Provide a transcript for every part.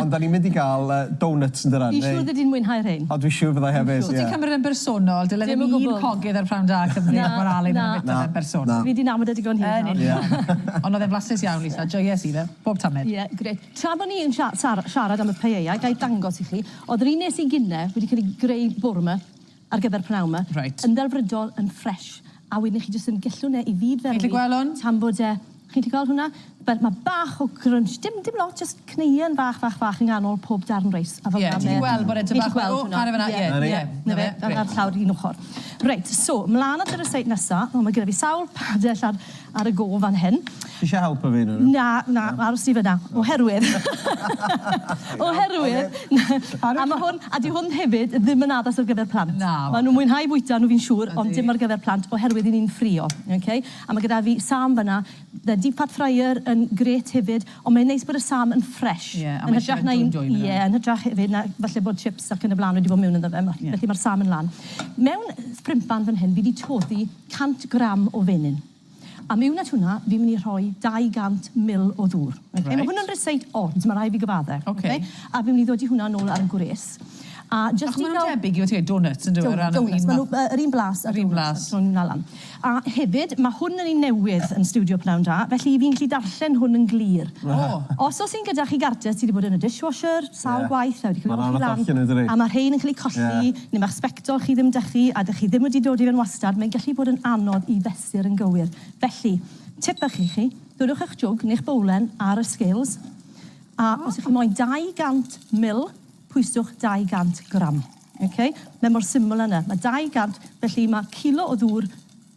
Ond 'da ni'n mynd i gael donuts yn dydan? Fi'n siŵr fyddi di'n mwynhau rhein. O dwi'n siŵr fydda i hefyd. Os ti'n cymryd e'n bersonol, dyle ddim un cogydd ar Prynhawn Da Cymru fod mor alyn â fita fe'n bersonol. Fi 'di nabod e digon hir nawr. Yn union. Ond oedd e'n flasus iawn, Lisa. Joies i fe, bob tamed. Ie, grêt. Tra bo ni yn siarad am y paella, ga i dangos i chi, oedd yr un nes i gyn-ne wedi cael ei greu bore 'ma. Ar gyfer pnawn ma. Reit. Yn ddelfrydol, yn ffresh. A wedyn i chi jyst yn gellwng e i fyd fel 'ny. Chi'n gallu gweld hwn? Tan bod e... Chi'n gallu gweld hwnna? Fel ma' bach o grunch, dim dim lot, jyst cneuen fach fach fach yng nghanol pob darn reis, a fel 'na mae e... Ie, ti 'di gweld bod e tipyn bach fel, o, chware fan'na, ie, ie, ie, 'na fe, grêt. A'r llawr un ochor. Reit, so, mlan at y reseit nesa. O, ma' gyda fi sawl padell ar ar y go fan hyn. Ti eisiau helpu fi yn hynna? Na, na, aros ti fan'na. Oherwydd, oherwydd, a ma' hwn, a 'di hwn hefyd ddim yn addas ar gyfer plant. Na. Ma' nhw'n mwynhau bwyta nhw fi'n siŵr, ond dim ar gyfer plant oherwydd 'yn ni'n ffrio, ok? A ma' gyda fi Sam fan'na, the deep fat fryer yn grêt hefyd, ond mae'n neis bod y Sam yn ffresh, yn hytrach na un, ie, yn hytrach hefyd na falle bod chips ac yn y bla'n wedi bod mewn ynddo fe, felly ma'r Sam yn lân. Mewn ffrympan fan hyn fi 'di toddi, 100 gram o fenyn. A miwn at hwnna, fi'n mynd i rhoi 200 mil o ddŵr. Reit. Oce, ma' hwn yn ryseit od, ma' rai' fi gyfadde. Oce. Oce? A fi'n mynd i ddodi hwnna nôl ar y gwres. A jyst i ga'l... Achos ma' nw'n debyg i oce, donuts yndyw e? O ran yr un ma-... Donuts, ma' nw yy yr un blas â donuts. Yr un blas. Tro nw 'na lan. A hefyd, ma' hwn yn un newydd yn stiwdio Pnawn Da, felly fi'n gallu darllen hwn yn glir. O! Os o's un gyda chi gartre sy 'di bod yn y dishwasher sawl gwaith, a wedi ca'l 'i olchi lan. Ma' 'na rwbeth allan ynddo fe. A ma' rhein yn ca'l 'u colli. Ie. Neu mae'ch sbectol chi ddim 'da chi a 'dych chi ddim wedi dod i fewn wastad, mae'n gallu bod yn anodd i fesur yn gywir. Felly, tip bach i chi, dwrwch eich jwg neu'ch bowlen ar y scales a os y'ch chi moyn 200 mil, pwyswch 200 gram. Ok? Mae mor syml â 'na. Mae 200, felly mae cilo o ddŵr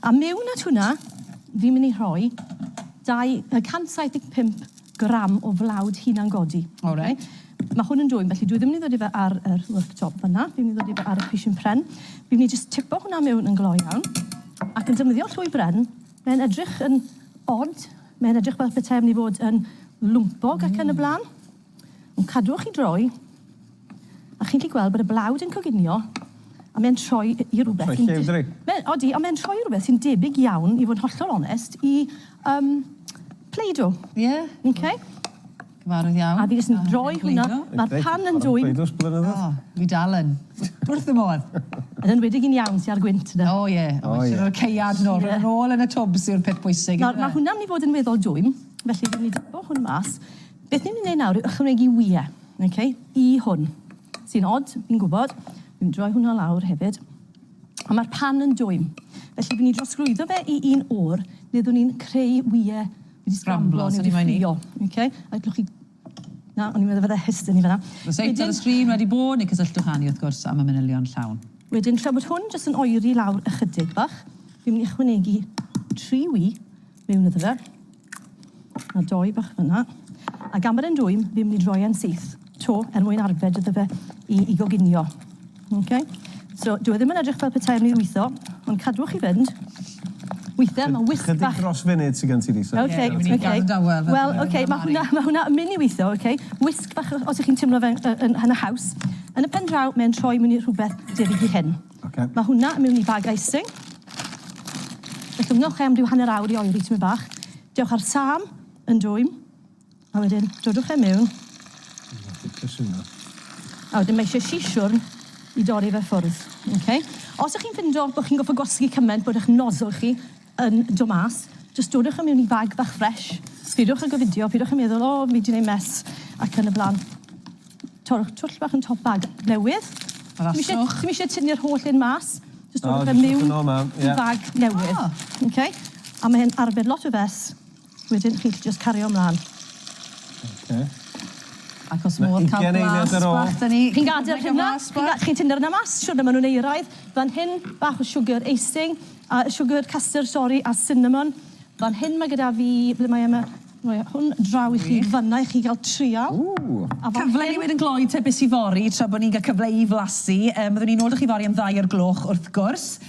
A mewn at hwnna, fi'n mynd i rhoi 275 gram o flawd hunan-godi. O reit. Mae hwn yn dwym, felly dwi ddim yn mynd i ddod i fe ar yr worktop fanna, fi'n mynd i ddod i fe ar y pishyn pren. Fi'n mynd i jyst tipo hwnna mewn yn gloi iawn, ac yn defnyddio llwy bren, mae'n edrych yn od, mae'n edrych fel petai am ni fod yn lwmpog ac yn y blaen. Ond cadwch i droi, a chi'n gallu gweld bod y blawd yn coginio, a mae'n troi i rywbeth... Mae'n lliwddry. Mae'n, odi, ond mae'n troi i rywbeth sy'n debyg iawn, i fod yn hollol onest, i um, Play-Doh. Ie. Yeah. Okay. Cyfarwydd iawn. A fi jyst yn ah, droi hwnna, mae'r pan yn dwyn. Play-Doh's blynyddoedd. Oh, fi dal yn. Wrth y modd. Yn enwedig yn iawn sy'n ar gwynt yna. O ie, o oh, ie. O'r ceiad nôl, yeah. yn ôl yn y twbs yw'r peth bwysig. Nawr, mae hwnna'n mynd i fod yn weddol dwym, felly dwi'n mynd i dybio hwn mas. Beth ni'n mynd i wneud nawr yw ychwanegu wyau, ok, i hwn. Sy'n od, fi'n gwybod. Fi'n droi hwnna lawr hefyd. A mae'r pan yn dwym. Felly, fi'n ni drosglwyddo fe i un o'r le ddwn ni'n creu wyau wedi sgramblo neu wedi ffrio. Ok, a gallwch chi... Na, o'n i'n meddwl fydde hyst yn ni fanna. Os eith ar y sgrin wedi bo, neu cysylltwch â ni, wrth gwrs, am y manylion llawn. Wedyn, tra bod hwn jyst yn oeri lawr ychydig bach, fi'n mynd i ychwanegu tri wy mewn iddo fe. A doi bach fyna. Ac am yr un dwym, fi'n mynd i droi e'n syth, 'to, er mwyn arbed iddo fe i i goginio. Okay? So, dyw e ddim yn edrych fel petai e'n mynd i lwytho, ond cadwch i fynd. Weithiau mae wisg bach... Chydig dros funud sy gen ti Lisa. Ok, ok. Fi'n mynd i gadael e. Wel, ok, ma' hwnna, ma' hwnna yn mynd i weithio, ok? Wisg bach, os 'ych chi'n timlo fe'n yy yn yn haws. Yn y pen draw, mae e'n troi mewn i rhywbeth debyg i hyn. Ocê. Mae hwnna mewn i bag icing. Fe llwgnwch e am ryw hanner awr i oeri tymed bach. Dewch â'r sam yn dwym, a wedyn dodwch e mewn. A wedyn mae eisiau sisiwrn i dorri fe ffwrdd. Ocê. Os ych chi'n ffindo bod chi'n gorfod gwasgu cymaint bod eich nozzle chi yn do mas, jyst dodwch e mewn i bag bach ffresh, sbïwch ag y fideo, pidwch yn meddwl, o, fi di neud mess, ac yn y blan. Torrwch twll bach yn top bag newydd. Raswch. Dim eisiau tynnu'r holl un mas, jyst dodwch e mewn i bag newydd. Ah. Ok? A mae e'n arbed lot o fess. Wedyn chi'ch jyst cario mlan. Oce. Ac os modd ca'l blas bach 'da ni. Ma' ugen eiliad ar ôl. Chi'n gadel hynna, chi'n ga- chi'n tynnu'r yna mas siwrne ma' nw'n euraidd. Fan hyn bach o siwgr icing a siwgr custard sori a cinnamon. Fan hyn ma' gyda fi, ble mae e 'ma? Roi e hwn draw i chi fana i chi ga'l trial. Ww! A fan hyn... Cyfle i ni weud yn glou te beth sy fory tra bo' ni'n ga'l cyfle i flasu. Yym fyddwn ni nôl 'da chi fory am ddau o'r gloch wrth gwrs.